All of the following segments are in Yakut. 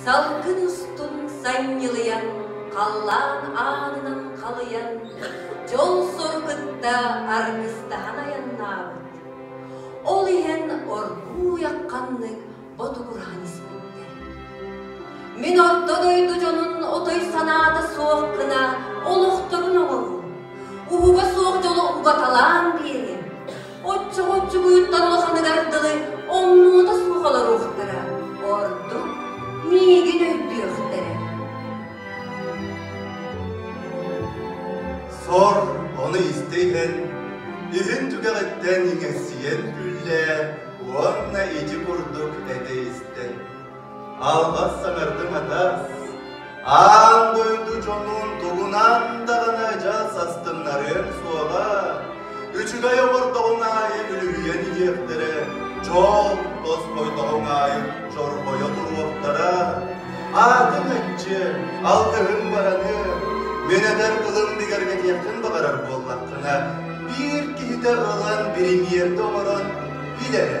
Салгын устун санньылыйан, халлаан аанынан халыйан, дьол-сор кытта аргыстаһан айаннаабыт. Ол иһэн оргууй ханнык ботугураан испиттэр. Мин орто дойду дьонун отой санаата суох гына олохторун оҥорон, уһуба суох дьолу угаталаан биэриэм. Оччоҕо-оччоҕуйуттар улаханыгар дылы омнуота суох олоруохтара, ордук миигин өйдүөхтэрэ. Сор ону истэ иһэн, иһин түгэҕиттэн иҥэрсийэн күллээ уонна ити курдук этэ истэн Албас саҥардыҥ атас, аан дойду дьонун тугунан даҕаны дьал састыннарыан суоҕа, үчүгэй оҕордоҕуҥ аайы үлүһүйэн иһиэхтэрэ, дьол тосхойдоҕуҥ аайы чорбойо туруохтара. Аатыҥ аччы, алгыһыҥ бараны, мин этэр тылым бигэргэтиэххин баҕарар буоллаххына, биир киһитэ ылан биримиэрдэ оҥорон билэрэ.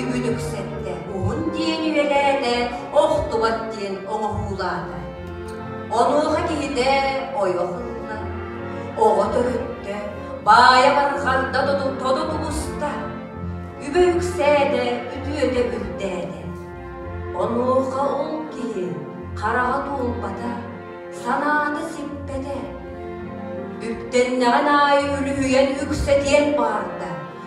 Үбүлүксэттэ уһун диэн үөлээтэ, охтубат диэн оҥоһуулаата. Онуоха киһитэ ойох ылла, оҕо төрүттэ, баайа барҕарда тото тубуста, үбэ үксээтэ, үтүөтэ үрдээтэ. Онуоха ол киһи хараҕа туолбата, санаата сиппэтэ. Үптэннэҕин аайы үлүһүйэн үксэтиэн баарда,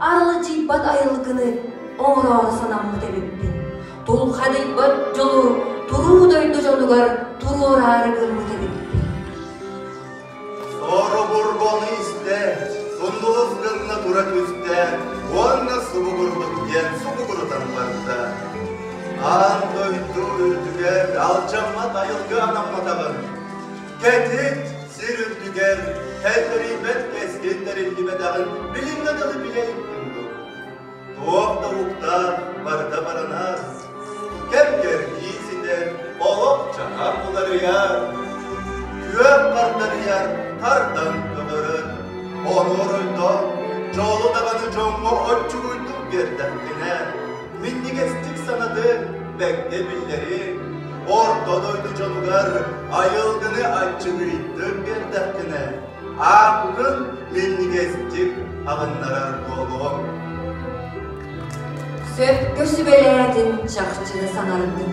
Аралдьыйбат айылгыны оҥороору санаммыт эбиппин. Тулхадыйбат дьолу туруу дойду дьонугар туруораары гыммыт эбиппин. Соробур бону истээч, сундуус гынна тура түстэ, уонна субугурбут диэн субугурутан барда. Аан дойду үрдүгэр алдьаммат айылгы анамматаҕын. Кэтит сир үрдүгэр тэллэриммэт кэскил тэриллибэтэҕин билиҥҥэ дылы билэйиттиҥ дуо? Туох да уктар барыта баранас. Кэм-кэрдии ситэр, олох-дьаһах уларыйар. Күөн хардарыйар тардан көнөрүн, оруоруйдан, дьолу табаны дьоҥҥо оччугуйдук биэрдэххинэ, минньигэстик санаатын бэҥҥэ биллэрин, ордон ойду дьонугар айылгыны аччыгыйдын биэрдэххинэ, ааккын минньигэстик аҕыннарар буолуоҥ. Сөпкө сүбэлээтин, чахчыны саҥардын.